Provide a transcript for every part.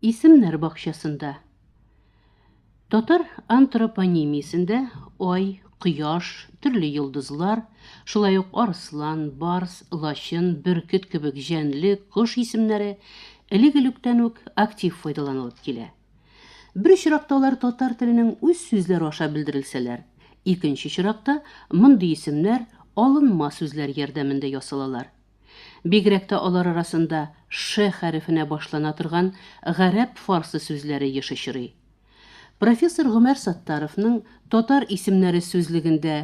Исемнәр бакчасында. Татар антропонимиясендә ай, кояш, төрле йолдызлар, шулай ук арыслан, барс, лачын, бөркет кебек җәнле, кош исемнәре элек-электән үк актив файдаланылып килә. Бер очракта алар татар теленең үз сүзләре аша белдерелсәләр, икенче очракта мондый исемнәр алынма сүзләр ярдәмендә ясалалар. Бигрәк тә алар арасында Ш хәрефенә башлана торган гарәп-фарсы сүзләре еш очрый. Профессор Гомәр Саттаровның Татар исемнәре сүзлегендә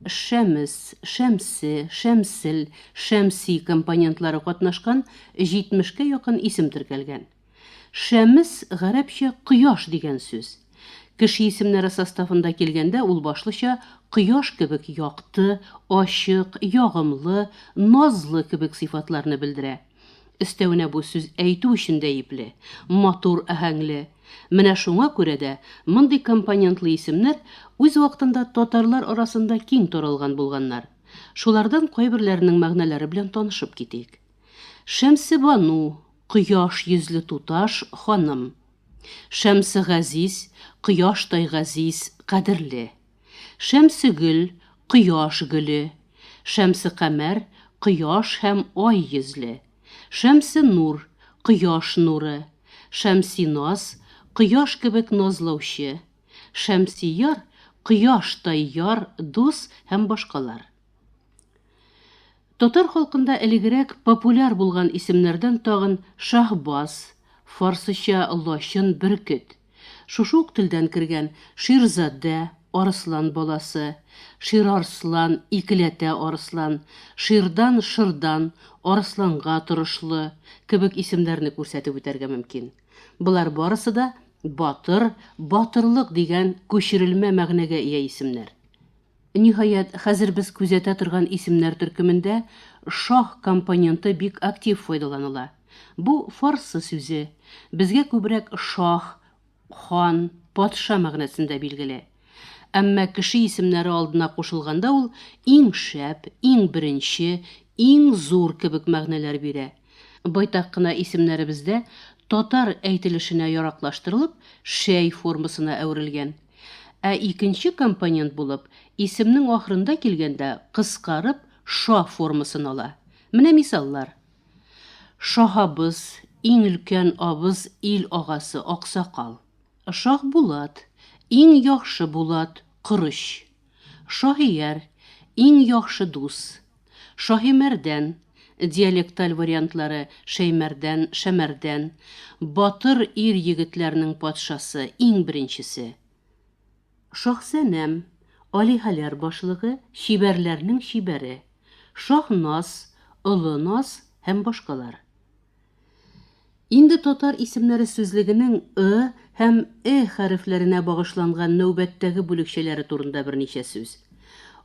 Шәмес, Шәмсе, Шәмсел, Шәмси компонентлары катнашкан җитмешкә якын исем теркәлгән. Шәмс, гарәпчә кояш дигән сүз. Кеше исемнәре составында килгәндә ул башлыча кояш кебек якты, ачык, ягымлы, назлы кебек сыйфатларны белдерә. Өстәвенә бу сүз әйтү өчен дә ипле, матур аһәңле. Менә шуңа күрә дә мондый компонентлы исемнәр үз вакытында татарлар арасында киң таралган булганнар. Шулардан кайберләренең мәгънәләре белән танышып китик. Шәмсебану, Кояш йөзле туташ, ханым. Шәмсе газиз, кояштай газиз, кадерле. Шәмсегөл, кояш гөле. Шәмсе камәр, кояш һәм ай йөзле. Шәмсе нур, кояш нуры. Шәмси наз, кояш кебек назлаучы. Шәмси яр, кояштай яр, дус һәм башкалар. Татар халкында элегрәк популяр булган исемнәрдән тагын Шаһбаз, фарсыча лачын, бөркет. Шушы ук телдән кергән Ширзадә, арыслан баласы, Ширарслан, икеләтә арыслан, Ширдан, шырдан, арысланга торышлы, кебек исемнәрне күрсәтеп үтәргә мөмкин. Болар барысы да батыр, батырлык дигән күчерелмә мәгънәгә ия исемнәр. Ниһаять, хәзер без күзәтә торган исемнәр төркемендә шаһ компоненты бик актив файдаланыла. Бу, фарсы сүзе, безгә күбрәк шаһ, хан, патша мәгънәсендә билгеле. Әмма кеше исемнәре алдына кушылганда ул иң шәп, иң беренче, иң зур кебек мәгънәләр бирә. Байтак кына исемнәребез дә татар әйтелешенә яраклаштырылып, шәй формасына әверелгән. Ә икенче компонент булып, исемнең ахырында килгәндә кыскарып ша формасын ала. Менә мисаллар. Шаһабыз, иң өлкән абыз, ил агасы, аксакал. Шаһбулат, иң яхшы булат, корыч. Шаһияр, иң яхшы дус. Шаһимәрдән, диалекталь вариантлары, Шәймәрдән, Шәмәрдән, батыр ир-егетләрнең патшасы, иң беренчесе. Шаһсәнәм, алиһәләр башлыгы, чибәрләрнең чибәре. Шаһназ, олы наз һәм башкалар. Инде татар исемнәре сүзлегенең ы һәм э хәрефләренә багышланган нәүбәттәге бүлекчәләре турында берничә сүз.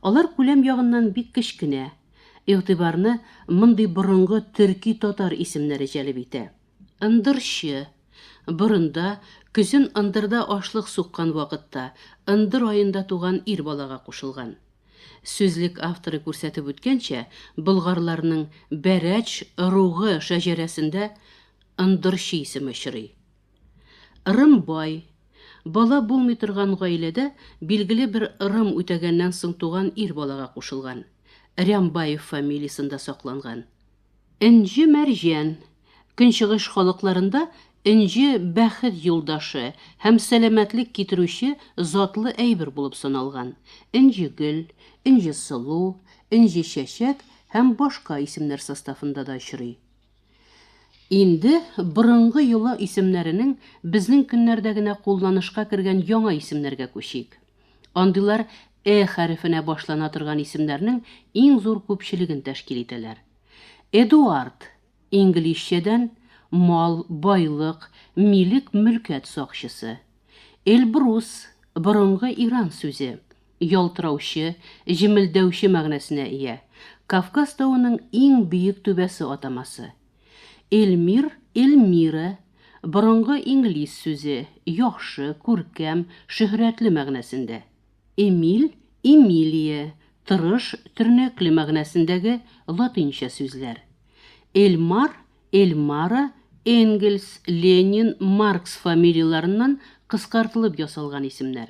Алар күләм ягыннан бик кечкенә. Игътибарны мондый борынгы төрки татар исемнәре җәлеп итә. Ындырчы. Борында, көзен ындырда ашлык суккан вакытта, ындыр аенда туган ир балага кушылган. Сүзлек авторы күрсәтеп үткәнчә, болгарларның Бәрәч ыругы шәҗәрәсендә ындырчы исеме очрый. Ырым бай, бала булмый торган гаиләдә билгеле бер ырым үтәгәннән соң туган ир балага кушылган, Рямбаев фамилиясендә сакланган. Энҗе Мәрҗән. Көнчыгыш халыкларында энҗе бәхет юлдашы һәм сәламәтлек китерүче затлы әйбер булып саналган. Энҗегөл, Энҗесылу, Энҗечәчәк һәм башка исемнәр составында да очрый. Инде борынгы йола исемнәренең безнең көннәрдә генә кулланышка кергән яңа исемнәргә күчик. Андыйлар Э хәрефенә башлана торган исемнәрнең иң зур күпчелеген тәшкил итәләр. Эдуард, инглизчәдән, мал, байлык, милек, мөлкәт сакчысы. Эльбрус, борынгы иран сүзе, ялтыраучы, җемелдәүче мәгънәсенә ия, Кавказ тавының иң биек түбәсе атамасы. Эльмир, Эльмира, борынгы инглиз сүзе, яхшы, күркәм, шөһрәтле мәгънәсендә. Эмиль, Эмилия, тырыш, тернәкле мәгънәсендәге латинча сүзләр. Эльмар, Эльмара, Энгельс, Ленин, Маркс фамилияләреннән кыскартылып ясалган исемнәр.